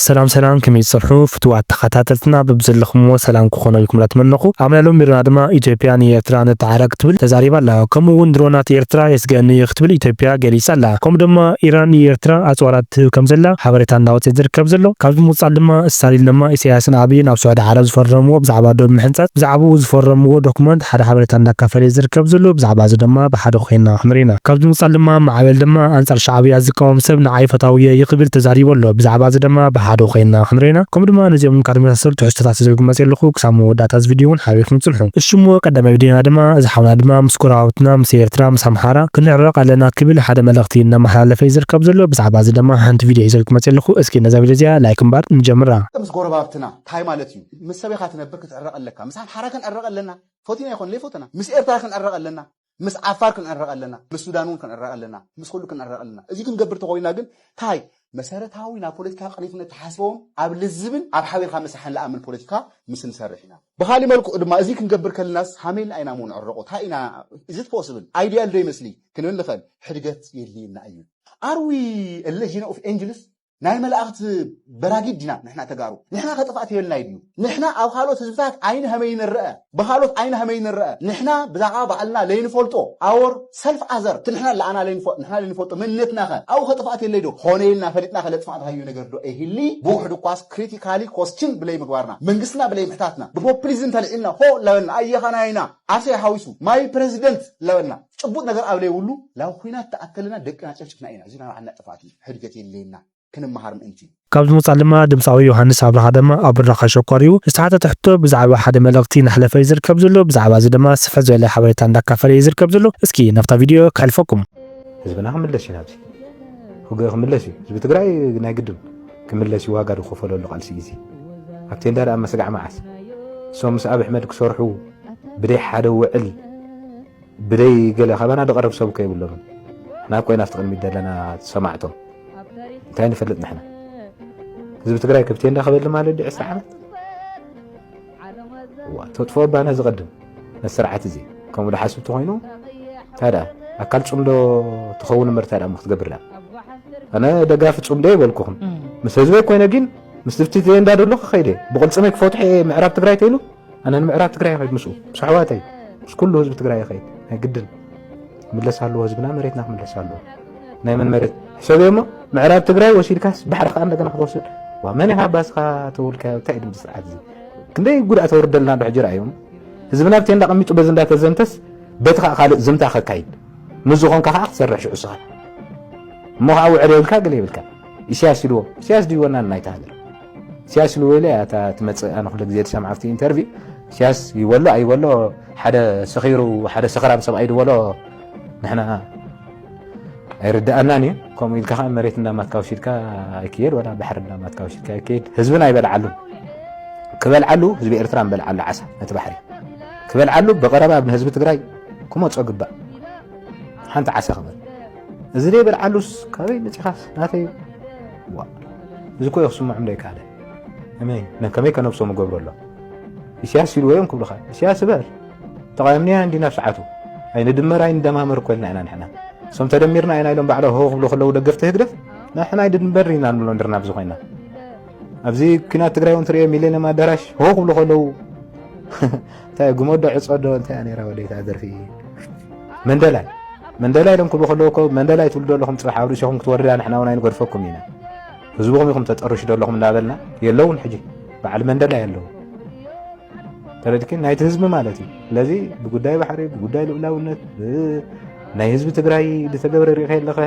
ሰላም ሰላም ከመይ ትጸንሑ ፍቱዋት ተኻታተልትና በብዘለኹምዎ ሰላም ክኾኖ ኢልኩም ላተመነኹ ኣመና ሎሚ መደብና ድማ ኢትዮጵያ ንኤርትራ ንተዓረቅ ክትብል ተዛሪባ ኣላ ከምኡ ውን ድሮናት ኤርትራ የስግኣኒ እዩ ክትብል ኢትዮጵያ ገሊጻ ኣላ ከምኡ ደማ ኢራን ንኤርትራ ኣጽዋራት ትህብ ከም ዘላ ሓበሬታ እንዳወጸ ዝርከብ ዘሎ ካብዚ ብምቅጻል ድማ ስታሊን ደማ ኢሰያስን ኣብይን ኣብ ስዑዲ ዓረብ ዝፈረምዎ ብዛዕባ ዶብ ምሕንጻጽ ብዛዕብኡ ዝፈረምዎ ዶኩመንት ሓደ ሓበሬታ እንዳካፈለ እዩ ዝርከብ ዘሎ ብዛዕባ እዚ ደማ ብሓደ ኮይና ክንሪኢ ኢና ካብዚ ብምቅጻል ደማ ማዕበል ደማ ኣንጻር ሻዕብያ ዝቃወም ሰብ ንዓይ ፈታዊ እየ እዩ ክብል ተዛሪቡ ኣሎ። ብዛዕባ እዚ ድማ ብሓደ ኮይንና ክንሪኦ ኢና። ከምኡ ድማ ነዚኦምን ካልእ ዝመሳሰሉ ትሕዝቶታት ሒዘ ክመጽእ ኣለኹ። ክሳብ መወዳእታ እዚ ቪድዮ እውን ሓቢርኩም ጽንሑ። እሽሞ ቀዳማይ ቪድዮና ድማ እዚ ሓውና ድማ ምስ ጎረባብትና ምስ ኤርትራ ምስ ኣምሓራ ክንዕረቕ ኣለና ክብል ሓደ መልእኽቲ እዩ እናመሓላለፈ እዩ ዝርከብ ዘሎ። ብዛዕባ እዚ ድማ ሓንቲ ቪድዮ ሒዘ ክመጽእ ኣለኹ። እስኪ ነዛ ቪድዮ እዚኣ ላይክ እምበር ንጀምራ። ምስ ጎረባብትና ታይ ማለት እዩ ምስ ሰበኻ ትነብር ክትዕረቕ ኣለካ ምስ ኣምሓራ ክንዕረቕ ኣለና ፈቲና ይኾን ለይፈተና ምስ ኤርትራ ክንዕረቕ ኣለና ምስ ዓፋር ክንዕረቕ ኣለና፣ ምስ ሱዳን እውን ክንዕረቕ ኣለና፣ ምስ ኹሉ ክንዕረቕ ኣለና። እዚ ክንገብር ተኾይንና ግን ታይ? መሰረታዊ ናብ ፖለቲካ ቅኒትነት ተሓስበውን ኣብ ልዝብን ኣብ ሓቢርካ ምስራሕን ልኣምን ፖለቲካ ምስ ንሰርሕ ኢና። ብኻሊእ መልክዑ ድማ እዚ ክንገብር ከልናስ ሃመይልና ኢና እሞ ንዕረቑ፣ ታይ ኢና is it possible? Ideal ዶ ይመስሊ? ክንብል ንኸእል። ሕድገት የድልየና እዩ። Are we a legion of angels? ናይ መላእኽት በራጊድ ዲና ንሕና ተጋሩ ንሕና ከጥፋእት የልና ይድዩ ንሕና ኣብ ካልኦት ህዝብታት ዓይኒ ሀመይ ንረአ ብካልኦት ዓይኒ ሀመይ ንረአ ንሕና ብዛዕባ ባዕልና ለይንፈልጦ ኣወር ሰልፍ ኣዘር እቲ ንሕና ለኣና ንሕና ለይንፈልጦ መንነትናኸ ኣብኡ ከጥፋእት የለይ ዶ ኾነ ኢልና ፈሊጥና ከለጥፋእት ሃዩ ነገር ዶ ኤሂሊ ብውሕዱ እኳስ ክሪቲካሊ ኮስችን ብለይ ምግባርና መንግስትና ብለይ ምሕታትና ብፖፕሊዝም ተልዒልና ሆ ላበልና ኣየኻ ናይና ዓሰይ ሓዊሱ ማይ ፕረዚደንት ላበልና ጭቡጥ ነገር ኣብ ለይብሉ ላብ ኹናት ተኣከልና ደቅና ጨፍጭፍና ኢና እዚ ናባዕልና ጥፋእት እዩ ሕድገት የድልየና ክንመሃር ምእንቲ። ካብ ዝሞጻ ድማ ድምጻዊ ዮሃንስ ኣብርሃ ድማ ኣብ ብራኸ ሸኮር'ዩ ዝተሓተተ ሕቶ ብዛዕባ ሓደ መልእኽቲ ናሕለፈ እዩ ዝርከብ ዘሎ ብዛዕባ እዚ ድማ ስፍሕ ዝበለ ሓበሬታ እንዳካፈለ እዩ ዝርከብ ዘሎ እስኪ ናብታ ቪድዮ ከሕልፈኩም። ህዝብና ክምለስ እዩ ናብዚ ውግእ ክምለስ እዩ ህዝቢ ትግራይ ናይ ግድን ክምለስ እዩ ዋጋ ዝኸፈለሉ ቃልሲ እዩ እዚ ኣብ ቴንዳ ድኣ መስጋዕ መዓስ እሶም ምስ ኣብሕመድ ክሰርሑ ብደይ ሓደ ውዕል ብደይ ገለ ካባና ድቐርብ ሰብ እኮ የብሎምን ናብ ኮይና ኣብቲ ቅድሚት ዘለና ሰማዕቶም እንታይ ንፈልጥ ንሕና ህዝቢ ትግራይ ክብቴ እንዳኸበሊ ማለት ዲ ዕስራ ዓመት ተጥፎ ባና ዝቐድም ነቲ ስርዓት እዚ ከምኡ ድሓስብ ተኮይኑ እንታይ ደኣ ኣካል ፅምዶ ትኸውን እምበር እንታይ ደኣ ክትገብር ደኣ ኣነ ደጋፊ ፅምዶ ይበልኩኹም ምስ ህዝበይ ኮይነ ግን ምስ ድብቲ እንዳ ደሎ ክኸይደ ብቕልፅመይ ክፈትሖ እየ ምዕራብ ትግራይ ተይሉ ኣነ ንምዕራብ ትግራይ ይኸይድ ምስኡ ምስ ኣሕዋተይ ምስ ኩሉ ህዝቢ ትግራይ ይኸይድ ናይ ግድን ክምለስ ኣለዎ ህዝብና መሬትና ክምለስ ኣለዎ ናይ መን መሬት ሕሰብ እሞ ምዕራብ ትግራይ ወሲድካስ ባሕሪ ከዓ እንደገና ክትወስድ ዋ መን ኢኻ ባስኻ ተውልካዮ እንታይ ድምፂ ስርዓት እዚ ክንደይ ጉድኣት ወርደልና ዶ ሕጂ ርኣዮም ህዝብና ብቴ እንዳቐሚጡ በዚ እንዳተዘምተስ በቲ ከዓ ካልእ ዝምታ ከካይድ ምስ ዝኾንካ ከዓ ክትሰርሕ ሽዑ ስኻ እሞ ከዓ ውዕል የብልካ ገለ የብልካ ኢሳያስ ኢልዎ ኢሳያስ ድዩ ወናን ናይታ ሃገር ኢሳያስ ኢልዎ ኢለ እያ እታ ትመጽእ ኣነ ኩሉ ግዜ ዝሰምዓ ኣብቲ ኢንተርቪ ኢሳያስ ይበሎ ኣይበሎ ሓደ ሰኺሩ ሓደ ሰኽራም ሰብኣይ ድበሎ ንሕና ኣይርድኣናን እዩ ከምኡ ኢልካ ከዓ መሬት እንዳማትካ ውሲድካ ኣይክየድ ወላ ባሕሪ እንዳማትካ ውሲድካ ኣይክየድ ህዝብን ኣይበልዓሉን ክበልዓሉ ህዝቢ ኤርትራ ንበልዓሉ ዓሳ ነቲ ባሕሪ ክበልዓሉ ብቐረባ ንህዝቢ ትግራይ ክመፆ ግባእ ሓንቲ ዓሳ ክበል እዚ ደይበል ዓሉስ ካበይ መጺኻስ ናተይ ዋእ እዚ ኮዮ ክስምዖም ደይከኣለ እመኝ ነከመይ ከነብሶም እገብሮ ኣሎ ኢስያስ ኢልዎ እዮም ክብልኻ ኢስያስ እበር ተቓየምንያ እንዲና ኣብ ሰዓቱ ኣይንድመር ኣይንደማመር እኮ ኢልና ኢና ንሕና እሶም ተደሚርና ኢና ኢሎም ባዕሎም ሆ ክብሉ ከለዉ ደገፍቲ ህግደፍ ንሕና ኣይድንበር ኢና ንብሎ ንድርና ኣብዚ ኮይና ኣብዚ ኩናት ትግራይ እውን ትሪኦ ሚሌኒየም ኣዳራሽ ሆ ክብሉ ከለዉ እንታይ ጉመዶ ዕጾ ዶ እንታይ እያ ነይራ ወደይታ ደርፊ መንደላይ መንደላይ ኢሎም ክብሉ ከለዉ እኮ መንደላይ ትብሉ ዘለኹም ፅባሕ ኣብ ርእሲኹም ክትወርዳ ንሕና እውን ኣይንገድፈኩም ኢና ህዝብኹም ኢኹም ተጠርሹ ዘለኹም እናበልና የለውን ሕጂ በዓል መንደላይ ኣለዉ ተረድኪ ናይቲ ህዝቢ ማለት እዩ ስለዚ ብጉዳይ ባሕሪ ብጉዳይ ልኡላውነት ናይ ህዝቢ ትግራይ ዝተገብረ ሪኢኸ ኣለኸ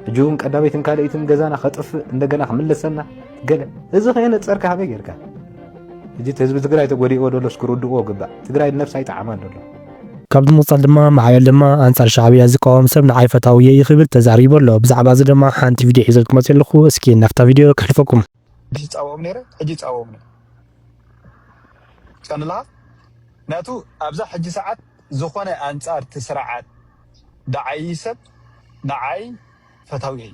ሕጂ እውን ቀዳመይትን ካልኣይትን ገዛና ከጥፍእ እንደገና ክምለሰና ገለ እዚ ከየነፀርካ ሃበይ ጌርካ እዚ ህዝቢ ትግራይ ተጎዲእዎ ደሎስ ክርድእዎ ግባእ ትግራይ ነብሳ ይጠዓማ ደሎ ካብዚ ምቕጻል ድማ ማዕበል ድማ ኣንጻር ሻዕብያ ዝቃወም ሰብ ንዓይ ፈታዊ እየ ይክብል ተዛሪቡ ኣሎ ብዛዕባ እዚ ድማ ሓንቲ ቪድዮ ሒዘ ክመጽእ ኣለኹ እስኪ ናብታ ቪድዮ ከሕልፈኩም ሕጂ ጻወኦም ነይረ ሕጂ ጻወኦም ነይረ ጸንላ ምክንያቱ ኣብዛ ሕጂ ሰዓት ዝኾነ ኣንጻር እቲ ስርዓት ደዓይ ሰብ ንዓይ ፈታዊ እየ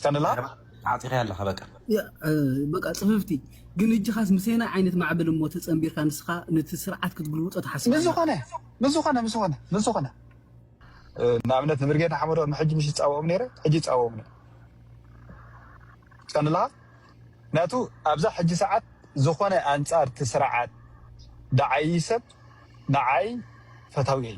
ቀንላ ዓፂኸያ ኣለኻ በቃ በቃ ፅፍፍቲ ግን እጅኻስ ምሰናይ ዓይነት ማዕበል እሞ ተፀምቢርካ ንስኻ ነቲ ስርዓት ክትግልውጦ ትሓስብ ኣለኻ። ምስዝኾነ ምስዝኾነ ምስዝኾነ ምስዝኾነ ንኣብነት ንብርጌድ ንሓመዶ ንሕጂ ምሽ ዝፃወኦም ነይረ ሕጂ ይፃወኦም ነይረ ቀንላ ምክንያቱ ኣብዛ ሕጂ ሰዓት ዝኾነ ኣንፃር እቲ ስርዓት ደዓዪ ሰብ ንዓይ ፈታዊ እየ።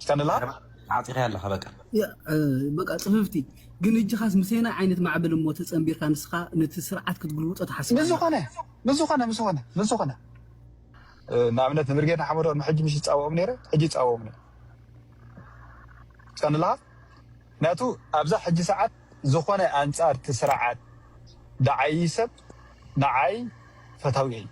ቀንላ ዓጢኻ ኣለኻ በቃ። በቃ ጽፍፍቲ ግን እጅኻስ ምሰየናይ ዓይነት ማዕበል እሞ ተጸንቢርካ ንስኻ ነቲ ስርዓት ክትግልብጦ ትሓስብ ኣለኻ። ምስዝኾነ ምስዝኾነ ምስዝኾነ ምስዝኾነ ንኣብነት ንብርጌድ ንሓመዱ ቅድሚ ሕጂ ምሽ ዝጻወኦም ነይረ ሕጂ ይጻወኦም ነይረ ቀንላ ምክንያቱ ኣብዛ ሕጂ ሰዓት ዝኾነ ኣንጻር እቲ ስርዓት ደዓዪ ሰብ ንዓይ ፈታዊየይ።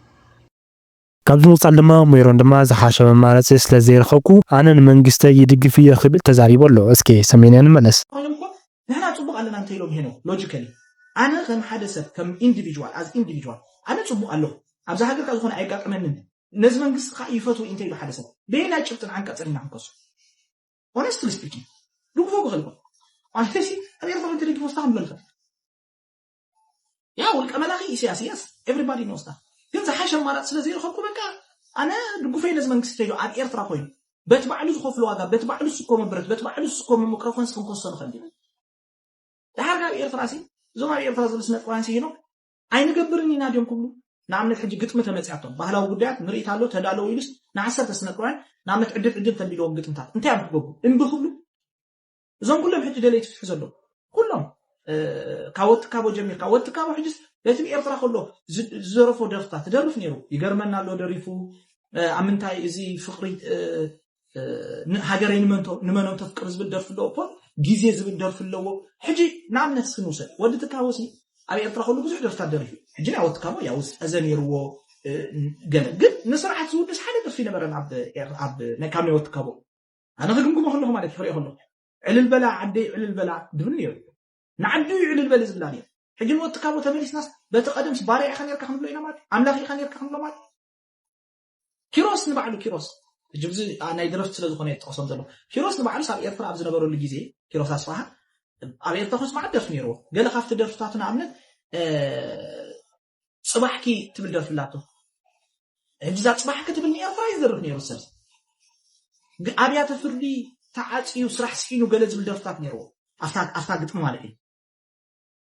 ካብዚ ምቕጻል ድማ ሜሮን ድማ ዝሓሸ መማረጺ ስለ ዘይረኸብኩ ኣነ ንመንግስተይ ይድግፍ እየ ክብል ተዛሪቡ ኣሎ። እስከ ሰሚዕናዮ ንመለስ። ኮይኖም እኮ ንሕና ጽቡቅ ኣለና እንተ ኢሎም ሄኖክ ሎጂከሊ ኣነ ከም ሓደ ሰብ ከም ኢንዲቪጅዋል ኣዝ ኢንዲቪጅዋል ኣነ ጽቡቅ ኣለኩ ኣብዛ ሃገር ከኣ ዝኮነ ኣየጋጥመንን ነዚ መንግስቲ ከኣ ይፈትዎ ኢንተ ኢሉ ሓደ ሰብ በየናይ ጭብጥን ዓንቀጽን ኢና ክንከሶ ሆነስትሊ ስፒኪንግ ድግፎ ክክእል ይኮን ኣነ ሲ ኣብ ኤርትራ እንተ ደግፎ ስታ ክንብሎ ንክእል ያ ውልቀ መላኺ ኢሰያስ የስ ኤቭሪባዲ ኖውስ ዳት ግን ዝሓሸ ኣማራጺ ስለ ዘይረኸብኩ በቃ ኣነ ድጉፈይ ነዚ መንግስቲ ተይዶ ኣብ ኤርትራ ኮይኑ በቲ ባዕሉ ዝኸፍሎ ዋጋ በቲ ባዕሉ ዝስኮመ ብረት በቲ ባዕሉ ዝስኮመ ምቅረፎንስ ክንከሶ ንኽእል ኢና ድሓር ካብ ኤርትራሲ እዞም ኣብ ኤርትራ ዝብል ስነ ጥበባውያን ሲሄኖም ኣይንገብርን ኢና ድዮም ክብሉ ንኣብነት ሕጂ ግጥሚ ተመፅያቶም ባህላዊ ጉዳያት ምርኢት ኣሎ ተዳለዉ ኢሉስ ንዓሰርተ ስነጥበውያን ንኣብነት ዕድል ዕድል ተቢልዎም ግጥምታት እንታይ እዮም ክገብሩ እምቢ ክብሉ እዞም ኩሎም ሕጂ ደለይቲ ፍትሒ ዘለዉ ኩሎም ካብ ወትካቦ ጀሚርካ ወትካቦ ሕጅስ በቲ ብኤርትራ ከሎ ዝደረፎ ደርፍታት ትደርፍ ነይሩ ይገርመና ኣሎ ደሪፉ ኣብ ምንታይ እዚ ፍቅሪ ሃገረይ ንመኖም ተፍቅር ዝብል ደርፊ ኣለዎ ፖል ግዜ ዝብል ደርፊ ኣለዎ ሕጂ ንኣብነት እስኪ ንውሰድ ወዲ ትካቦ ሲ ኣብ ኤርትራ ከሉ ብዙሕ ደርፍታት ደሪፉ ሕጂ ናይ ወዲ ትካቦ ያው ዝጠዘ ነይርዎ ገለ ግን ንስርዓት ዝውድስ ሓደ ደርፊ ነበረን ኣብ ካብ ናይ ወዲ ትካቦ ኣነ ክግምግሞ ከለኹ ማለት እዩ ክሪኦ ከለኹ ዕልል በላ ዓደይ ዕልል በላ ድብል ነይሩ ንዓዱ እዩ ዕልል በሊ ዝብላ ነይሩ ሕጂ ንወዲ ካቦ ተመሊስናስ በቲ ቀደምስ ባርያ ኢኻ ነርካ ክንብሎ ኢና ማለት ኣምላኽ ኢኻ ነርካ ክንብሎ ማለት ኪሮስ ንባዕሉ ኪሮስ ሕጂ ብዚ ናይ ድረፍት ስለ ዝኾነ ይጠቕሶም ዘሎ ኪሮስ ንባዕሉስ ኣብ ኤርትራ ኣብ ዝነበረሉ ግዜ ኪሮስ ኣስፋሃ ኣብ ኤርትራ ኮስ መዓት ደርፊ ነይርዎ ገለ ካብቲ ደርፍታቱ ንኣብነት ጽባሕኪ ትብል ደርፊ ኣላቶ ሕጂ እዛ ጽባሕኪ ትብል ንኤርትራ እዩ ዝደርፍ ነይሩ ሰብ ኣብያተ ፍርዲ ተዓፅዩ ስራሕ ስሒኑ ገለ ዝብል ደርፍታት ነይርዎ ኣብታ ግጥሚ ማለት እዩ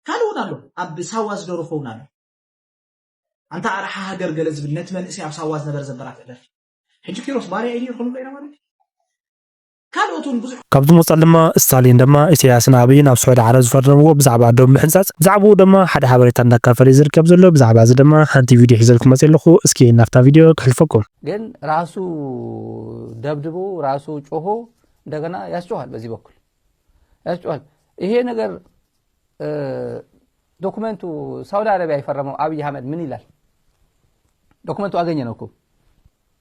ካልእ እውን ኣሎ ኣብ ሳዋ ዝደረፎ እውን ኣሎ ኣንታ ኣርሓ ሃገር ገለ ዝብል ነቲ መንእሰይ ኣብ ሳዋ ዝነበረ ዘበራትዕ ደርፊ ሕጂ ኪሮስ ባርያ እዩ ነይሩ ክንብሎ ኢና ማለት እዩ ካልኦት እውን ብዙሕ። ካብ ዝሞጻል ድማ እስታሊን ድማ ኢሰያስን ኣብይን ኣብ ስዑዲ ዓረብ ዝፈረምዎ ብዛዕባ ዶብ ምሕንጻጽ ብዛዕብኡ ደማ ሓደ ሓበሬታ እንዳካፈለዩ ዝርከብ ዘሎ ብዛዕባ እዚ ደማ ሓንቲ ቪድዮ ሒዘልኩም መጽየ ኣለኩ እስኪ ናብታ ቪድዮ ክሕልፈኩም። ግን ራሱ ደብድቡ ራሱ ጮሆ እንደገና ያስጮኋል በዚህ በኩል ያስጮኋል ይሄ ነገር ዶክመንቱ ሳውዲ አረቢያ የፈረመው አብይ አህመድ ምን ይላል ዶክመንቱ አገኘ ነው እኮ